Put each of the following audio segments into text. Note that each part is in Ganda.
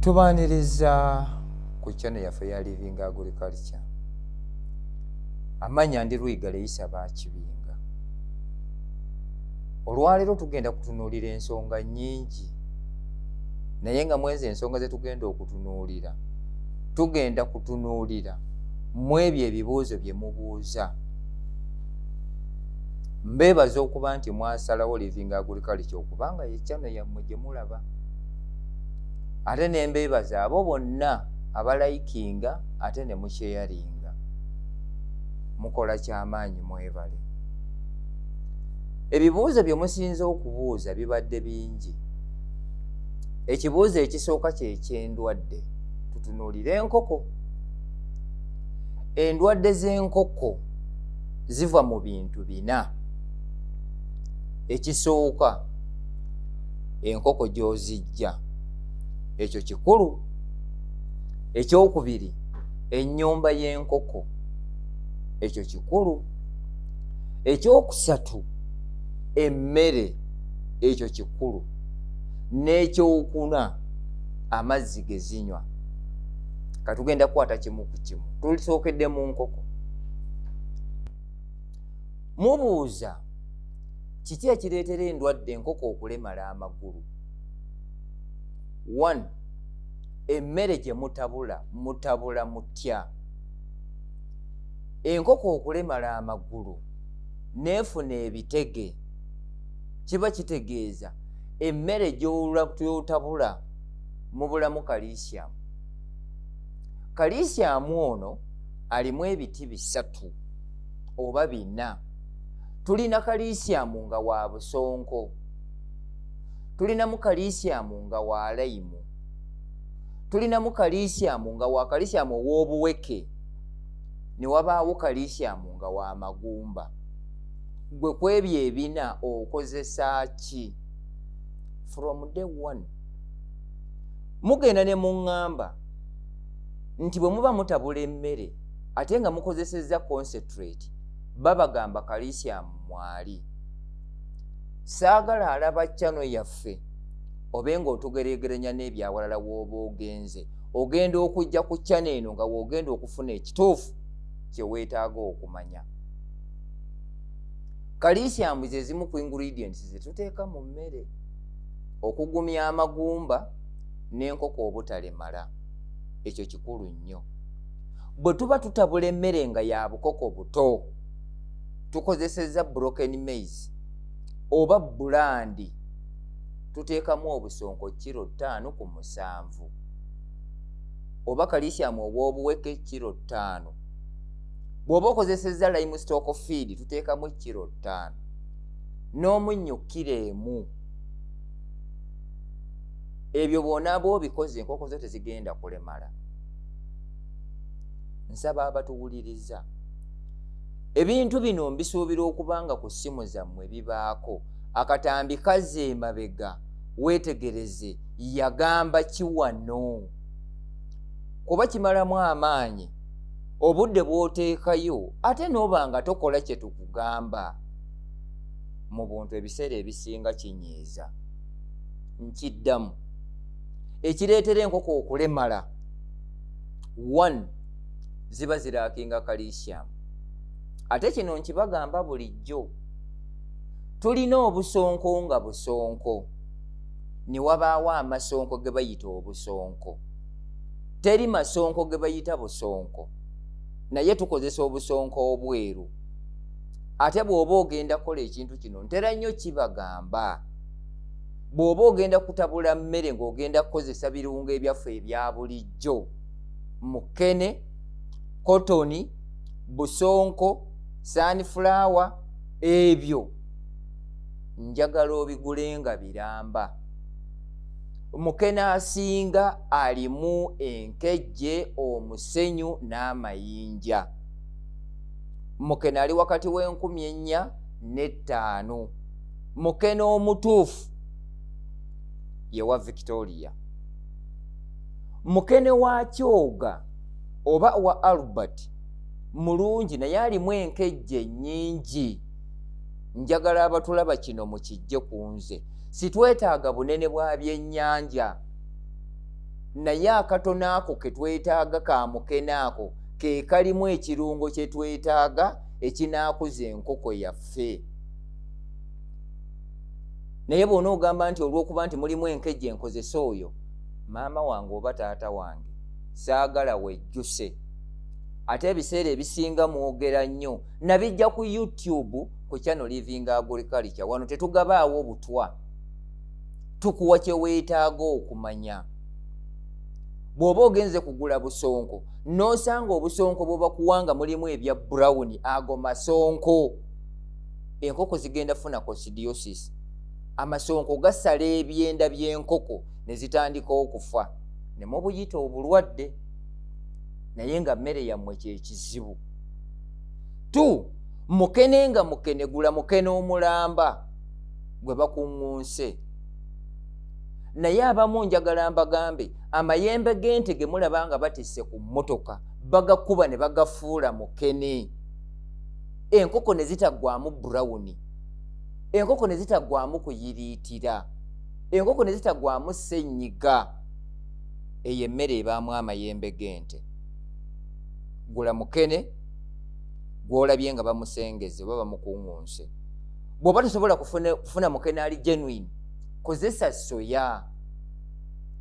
tubaniriza ku channel yaffe ya living agriculture amanya ndi lwiga leyisa bakibinga olwaleero tugenda kutunuulira ensonga nyingi naye nga mwezi ensonga zetugenda okutunuulira tugenda kutunuulira mu ebyo ebibuuzo bye mubuuza mbeebaza okuba nti mwasalawo living agriculture okubanga yekyano yammwe gye mulaba ate nembeebaza abo bonna abalayikinga ate ne mukyeyalinga mukola kyamaanyi mwebale ebibuuzo bye musinza okubuuza bibadde bingi ekibuuzo ekisooka kyekyendwadde tutunuulire enkoko endwadde z'enkoko ziva mu bintu bina ekisooka enkoko gyozijja ekyo kikulu ekyokubiri ennyumba y'enkoko ekyo kikulu ekyokusatu emmere ekyo kikulu n'ekyokuna amazzi gezinywa katugenda kukwata kimu ku kimu tulisookedde mu nkoko mubuuza kiki ekireetera endwadde enkoko okulemala amagulu one emmere gye mutabula mutabula mutya enkoko okulemala amagulu neefuna ebitege kiba kitegeeza emmere gyotabula mubulamu kalisiyamu kalisiyamu ono alimu ebiti bisatu oba bina tulina kalisiyamu nga wa busonko tulinamu kalisiyamu nga wa layimu tulinamu kalisiyamu nga wa kalisiyamu ow'obuweke ne wabaawo kalisiyamu nga wa magumba gwe ku ebyo ebina okozesa ki from day one mugenda ne muŋŋamba nti bwe muba mutabula emmere ate nga mukozesezza concentrate babagamba kalisyamu mwali saagala alaba cano yaffe obe nga otugeregeranya n'ebyawalala wooba ogenze ogenda okujja ku cano eno nga woogenda okufuna ekituufu kye weetaaga okumanya kalisyamu ze zimu ku ingredients ze tuteeka mu mmere okugumya amagumba n'enkoko obutalemala ekyo kikulu nnyo bwe tuba tutabula emmere nga ya bukoko buto tukozesezza broken maize oba bulandi tuteekamu obusonko kiro ttaano ku musanvu oba kalisyamu obwobuweke kiro ttaano bw'oba okozesezza lime stock feed tuteekamu kiro ttaano n'omunnyo kiro emu ebyo bwonaaba obikoze enkoko zo tezigenda kulemala nsaba abatuwuliriza ebintu bino mbisuubira okuba nga ku ssimu zammwe bibaako akatambi kazza emabega weetegereze yagamba kiwano kuba kimalamu amaanyi obudde bw'oteekayo ate n'oba nga tokola kye tukugamba mu buntu ebiseera ebisinga kinyiiza nkiddamu ekireetera enkoko okulemala one ziba ziraakinga calisium ate kino nkibagamba bulijjo tulina obusonko nga busonko ne wabaawo amasonko ge bayita obusonko teri masonko ge bayita busonko naye tukozesa obusonko obweru ate bw'oba ogenda kukola ekintu kino ntera nnyo kibagamba bw'oba ogenda kutabula mmere ng'ogenda kukozesa birungo ebyaffe ebya bulijjo mukene kotoni busonko sanifulawa ebyo njagala obigule nga biramba mukene asinga alimu enkejje omusenyu n'amayinja mukene ali wakati w'enkumi ennya n'ettaano mukene omutuufu yewa victoria mukene wa kyoga oba wa albert mulungi naye alimu enkejje nyingi njagala abatulaba kino mukijje ku nze sitwetaaga bunene bwa byennyanja naye akatono ako ke twetaaga ka mukene ako ke kalimu ekirungo kye twetaaga ekinaakuza enkoko yaffe naye bwona ogamba nti olwokuba nti mulimu enkejje enkozesa oyo maama wange oba taata wange saagala wejjuse ate ebiseera ebisinga mwogera nnyo nabijja ku youtube ku channel living agriculture wano tetugabaawo obutwa tukuwa kyeweetaaga okumanya bw'oba ogenze kugula busonko n'osanga obusonko bwebakuwanga mulimu ebya brown ago masonko enkoko zigenda funa cosidiosis amasonko gasala ebyenda byenkoko nezitandika okufa nemubuyita obulwadde naye nga mmere yammwe kyekizibu t mukene nga mukenegula mukene omulamba gwe bakuŋŋunse naye abamu njagala mbagambe amayembe g'ente ge mulaba nga batisse ku mmotoka bagakuba ne bagafuula mukene enkoko ne zitaggwamu burawuni enkoko ne zitaggwamu kuyiriitira enkoko ne zitaggwamu ssenyiga eyo emmere ebaamu amayembe g'ente gula mukene gw'olabye nga bamusengeze oba bamukuŋŋunse bw'oba tosobola kufuna mukene ali genuine kozesa soya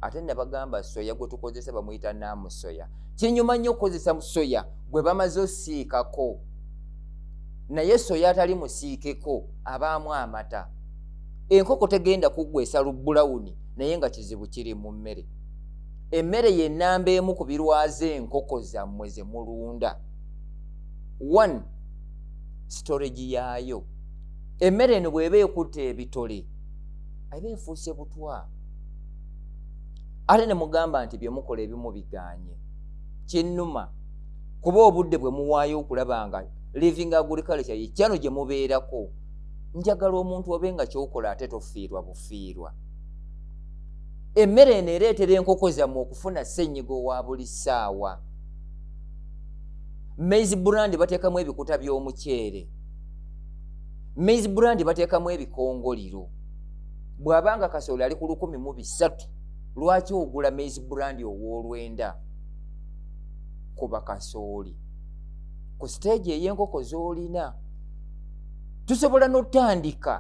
ate nabagamba soya gwetukozesa bamuyita namusoya kinyuma nnyo okukozesa musoya gwe bamaze osiikako naye soya atali musiikeko abaamu amata enkoko tegenda kuggwesa lubbulawuni naye nga kizibu kiri mu mmere emmere yenamba emu ku birwaza enkoko zammwe ze mulunda one storage yaayo emmere eno bw'eba ekutte ebitole aba efuuse butwa ate ne mugamba nti bye mukola ebimu biganye kinnuma kuba obudde bwe muwaayo okulaba nga living agriculture ye kyano gye mubeerako njagala omuntu obe nga kyokola ate tofiirwa bufiirwa emmere eno ereetera enkoko zammwe okufuna ssenyiga owa buli ssaawa maize brand bateekamu ebikuta by'omuceere maize brand bateekamu ebikongoliro bw'aba nga kasooli ali ku lukumi mu bisatu lwaki ogula maize brand owolwenda kuba kasooli ku siteegi ey'enkoko z'olina tusobola n'otandika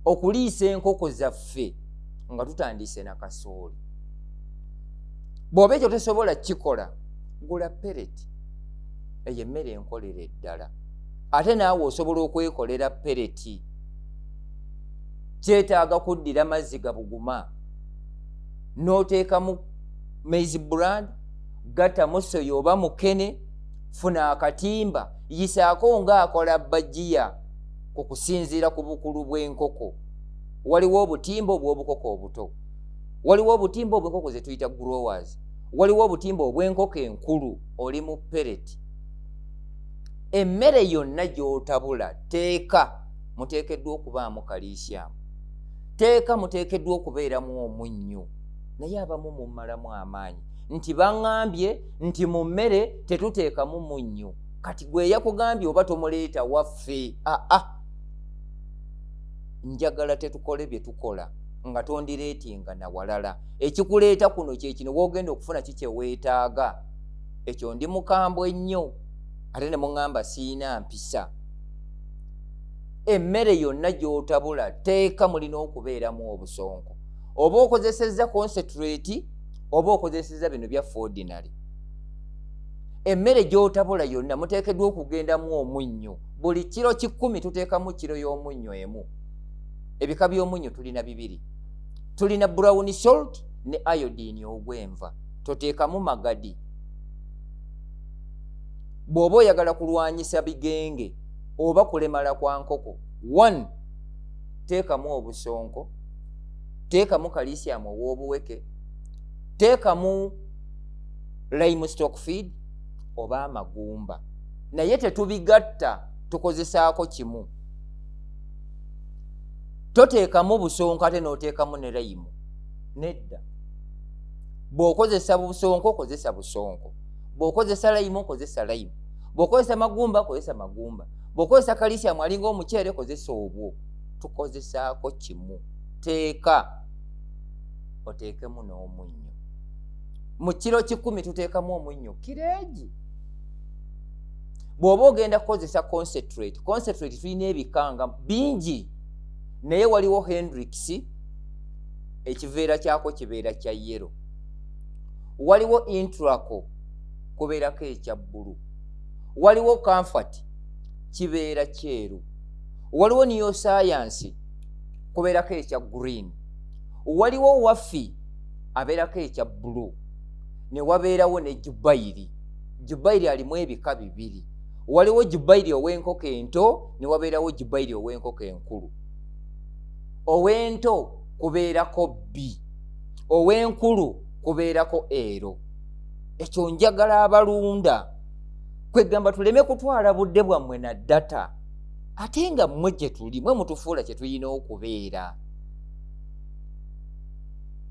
okuliisa enkoko zaffe nga tutandiise na kasooli bw'oba ekyo tosobola kikola gula pereti eyo emmere enkolera eddala ate naawe osobola okwekolera pereti kyetaaga kuddira mazzi gabuguma n'oteekamu maize brand gatamu soya oba mukene funa akatimba yisaako ng'akola bajiya ku kusinziira ku bukulu bw'enkoko waliwo obutimba obw'obukoko obuto waliwo obutimba obw'enkoko ze tuyita growers waliwo obutimba obw'enkoko enkulu oli mu pereti emmere yonna gy'otabula teeka muteekeddwa okubaamu kaliisiyamu teeka muteekeddwa okubeeramu omunnyo naye abamu mumalamu amaanyi nti baŋambye nti mu mmere tetuteekamu munnyo kati gwe yakugambye oba tomuleeta waffe aa ah, ah. njagala tetukole bye tukola nga tondireetinga nawalala ekikuleeta kuno kyekino wogenda okufuna ki kyeweetaaga ekyo ndi mukambwe nnyo ate ne muŋamba siina mpisa emmere yonna gy'otabula teeka mulina okubeeramu obusonko oba okozesezza concentrate oba okozesezza bino bya fordinary emmere gy'otabula yonna muteekeddwa okugendamu omunnyo buli kiro kikumi tuteekamu kiro y'omunnyo emu ebika by'omunnyo tulina bibiri tulina brown salt ne iodine ogw'enva toteekamu magadi bw'oba oyagala kulwanyisa bigenge oba kulemala kwa nkoko one teekamu obusonko teekamu kalisiamu ow'obuweke teekamu lime stock feed oba amagumba naye tetubigatta tukozesaako kimu toteekamu busonko ate n'oteekamu ne layimu nedda bw'okozesa busonko kozesa busonko bw'okozesa layimu kozesa layimu bwokozesa magumba kozesa magumba bwokozesa kalisiamu alinga omuceere kozesa obwo tukozesaako kimu teeka oteekemu n'omunnyo mu kiro kikumi tuteekamu omunnyo kireegi bw'oba ogenda kukozesa concentrate concentrate tulina ebikanga bingi naye waliwo hendrix ekiveera kyako kibeera kya yero waliwo intraco kubeerako ekya bbulu waliwo kanfati kibeera kyeru waliwo niyo sayansi kubeerako ekya green waliwo wafi abeerako ekya bbulu ne wabeerawo ne jubayiri jubayiri alimu ebika bibiri waliwo jubayiri ow'enkoko ento ne wabeerawo jubayiri ow'enkoko enkulu ow'ento kubeerako bbi ow'enkulu kubeerako ero ekyo njagala abalunda kwegamba tuleme kutwala budde bwammwe na data ate nga mmwe gye tuli mwe mutufuula kye tulina okubeera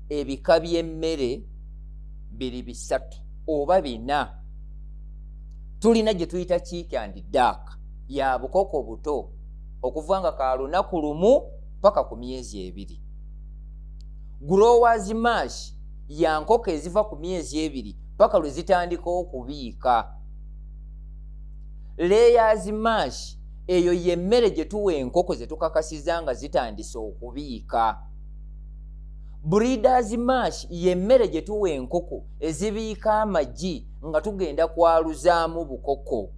ebika by'emmere biri bisatu oba bina tulina gye tuyita kiiki andi daaka ya bukoko buto okuva nga ka lunaku lumu paka ku myezi ebiri growers mash ya nkoko eziva ku myezi ebiri paka lwe zitandika okubiika layers mash eyo yemmere gye tuwa enkoko ze tukakasiza nga zitandise okubiika breeders mash yemmere gye tuwa enkoko ezibiika amagi nga tugenda kwaluzaamu bukoko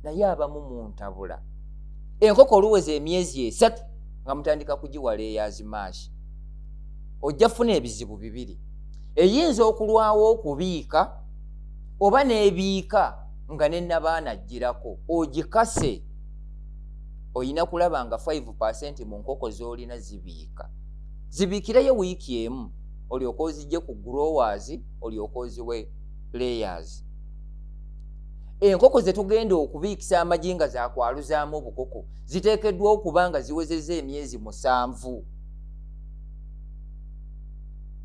naye abamu muntabula enkoko oluweza emyezi esatu nga mutandika kugiwa layers mash ojja funa ebizibu bibiri eyinza okulwawo okubiika oba n'ebiika nga nenabaana ajjirako ogikase olina kulaba nga 5 percent mu nkoko z'olina zibiika zibiikireyo wiiki emu olyoka ozijje ku growers olyoka oziwe layers enkoko zetugenda okubiikisa amagi nga zakwaluzaamu obukoko ziteekeddwa okuba nga ziwezeza emyezi musanvu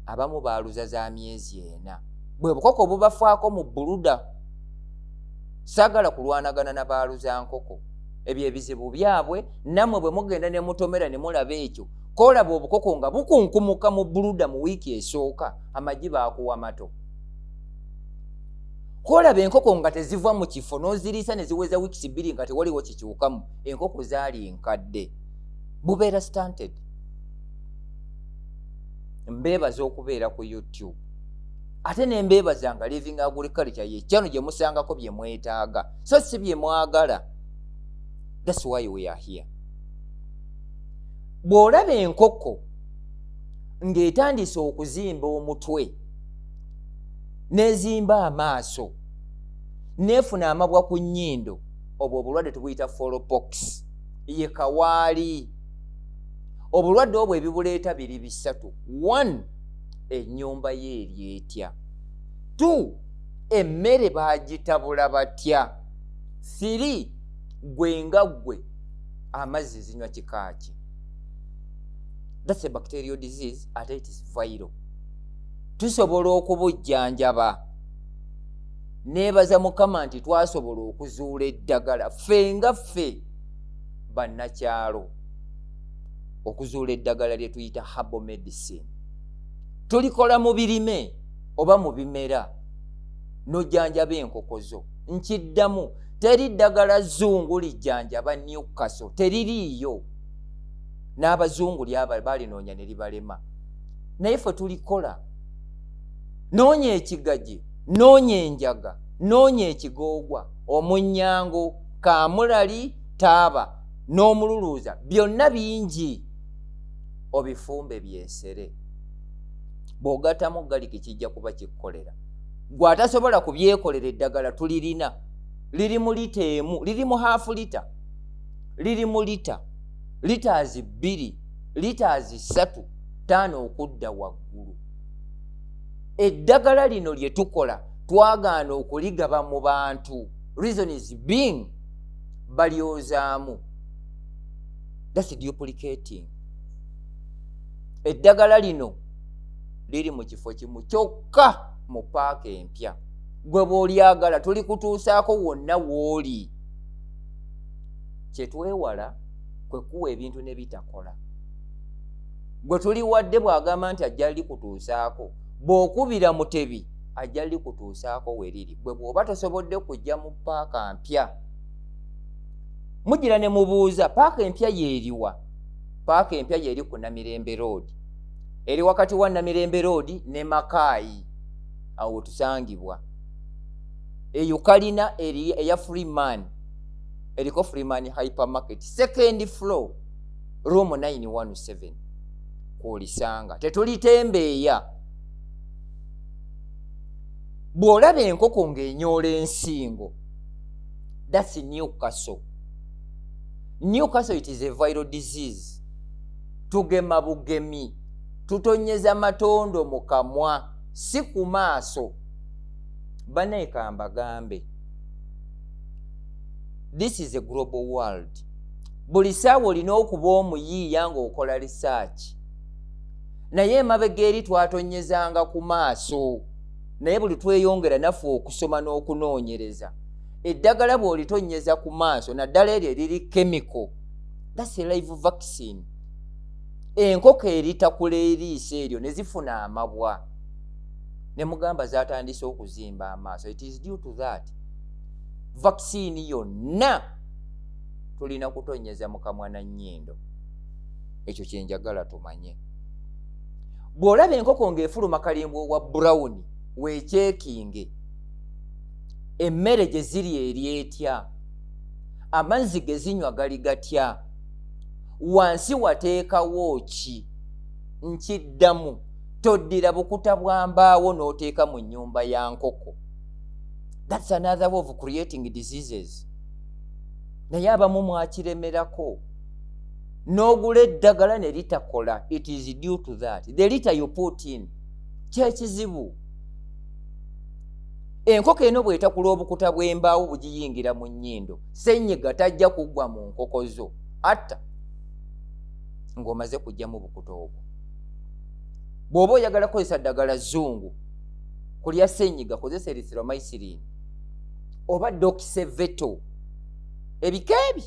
abamu baaluza za myezi ena bwe bukoko obubafaako mu buluda saagala kulwanagana na baaluza nkoko ebyo ebizibu byabwe nammwe bwe mugenda ne mutomera ne mulaba ekyo koolaba obukoko nga bukunkumuka mu buluda mu wiiki esooka amagi baakuwa mato koolaba enkoko nga teziva mu kifo n'oziriisa ne ziweza wiikisi bbiri nga tewaliwo kikyukamu enkoko zaali nkadde bubeera stanted mbeebaza okubeera ku youtube ate nembeebaza nga living agriculture yekyano gye musangako bye mwetaaga so si bye mwagala thats why we are here bw'olaba enkoko ng'etandise okuzimba omutwe n'ezimba amaaso neefuna amabwa ku nnyindo obwo obulwadde tubuyita folopox ye kawaali obulwadde obwo ebibuleeta biri bisatu one ennyumba ye eri etya two emmere bagitabula batya siri gwe nga ggwe amazzi zinywa kika ki thats a bacterial disease ate it is viral tusobola okubujjanjaba neebaza mukama nti twasobola okuzuula eddagala ffe nga ffe bannakyalo okuzuula eddagala lye tuyita habo medicine tulikola mu birime oba mu bimera n'ojjanjaba enkoko zo nkiddamu teri ddagala zungu lijjanjaba newkaso teririiyo n'abazungu lyaba balinoonya ne libalema naye ffe tulikola noonya ekigaji noonya enjaga noonya ekigoogwa omunyango kamulali taaba n'omululuuza byonna bingi obifumbe byesere bw'ogattamu galiki kijja kuba kikukolera gwe atasobola kubyekolera eddagala tulirina liri mu lita emu liri mu haafu lita liri mu lita litaazi bbiri litaazi ssatu taano okudda waggulu eddagala lino lye tukola twagaana okuligaba mu bantu reason is being balyozaamu thats duplicating eddagala lino liri mu kifo kimu kyokka mu paaka empya gwe bwolyagala tulikutuusaako wonna wooli kyetwewala kwekuwa ebintu nebitakola gwe tuli wadde bw'agamba nti ajja likutuusaako bw'okubira mutebi ajja likutuusaako we liri gwe bw'oba tosobodde kujja mu paaka mpya mugira ne mubuuza paaka empya yeeriwa paaka empya yeeri ku namirembe roodi eri wakati wa namirembe roodi ne makaayi awo wetusangibwa eyo kalina eri eya freeman eriko freeman hypermarket second floor room 917 kwolisanga tetulitembeeya bw'olaba enkoko ng'enyoola ensingo that's new castle new castle it is a viral disease tugema bugemi tutonyeza matondo mu kamwa si ku maaso banaye kambagambe this is a global world buli saawa olina okuba omuyiiya ng'okola risaaki naye emabega eri twatonyezanga ku maaso naye buli tweyongera naffe okusoma n'okunoonyereza eddagala bw'olitonyeza ku maaso naddala eryo eriri kemiko dasi live vaccine enkoko eritakula eriiso eryo ne zifuna amabwa ne mugamba zatandise okuzimba amaaso it is due to that vaccine yonna tulina kutonyeza mukamwa na nnyindo ekyo kyenjagala tumanye bw'olaba enkoko ng'efuluma kalimba owa burawuni weekyekinge emmere gye ziri eri etya amazzi ge zinywa gali gatya wansi wateekawo ki nkiddamu toddira bukuta bwa mbaawo n'oteeka mu nnyumba ya nkoko thats another way of creating diseases naye abamu mwakiremerako n'ogula eddagala ne litakola it is due to that the liter you put in kyekizibu enkoko eno bwetakula obukuta bw'embaawo bugiyingira mu nnyindo senyiga tajja kuggwa mu nkoko zo atta ng'omaze kugyamu obukuta obwo bw'oba oyagala kukozesa ddagala zungu kulya senyiga kozesa erithromycilin oba dokise veto ebika ebi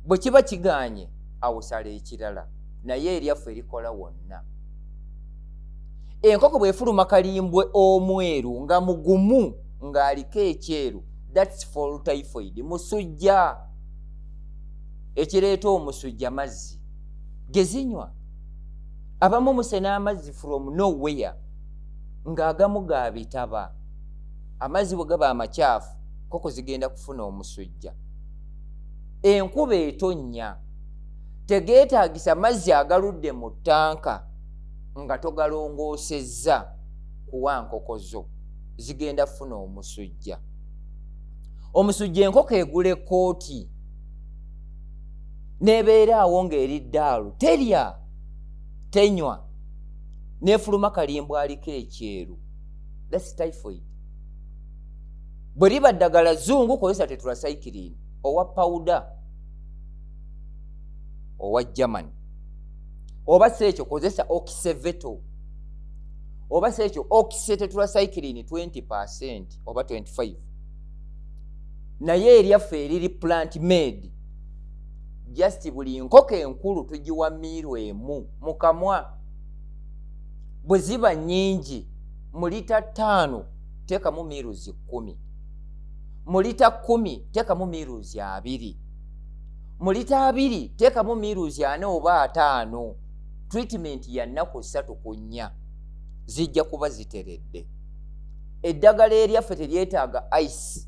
bwe kiba kiganye awusala ekirala naye eryaffe erikola wonna enkoko bwefuluma kalimbwe omweru nga mugumu ng'aliko ekyeru thats fol typhoid musujja ekireeta omusujja mazzi gezinywa abamu musena amazzi from nowhere ng'agamu ga bitaba amazzi bwe gaba amakyafu koko zigenda kufuna omusujja enkuba etonnya tegeetaagisa mazzi agaludde mu ttanka nga togalongoosezza kuwa nkoko zo zigenda kufuna omusujja omusujja enkoko egula ekkooti nebeera awo ng'eri ddaalu terya tenywa nefuluma kalimbwaliko ekyeru thats typhoid bwe liba ddagala zungu kozesa tetracyclin owa pawuda owa germany oba si ekyo kozesa okiseveto oba si ekyo okisetetracyclin 20 percent oba 25 naye eryaffe eriri plant made just buli nkoko enkulu tugiwa miiru emu mukamwa bwe ziba nnyingi mu lita ttaano teekamu miiruzi kkumi mu lita kkumi teekamu miiruzi abiri mu lita abiri teekamu miiruzi ana oba ataano tritimenti ya nnaku ssatu ku nnya zijja kuba ziteredde eddagala eryaffe teryetaaga ice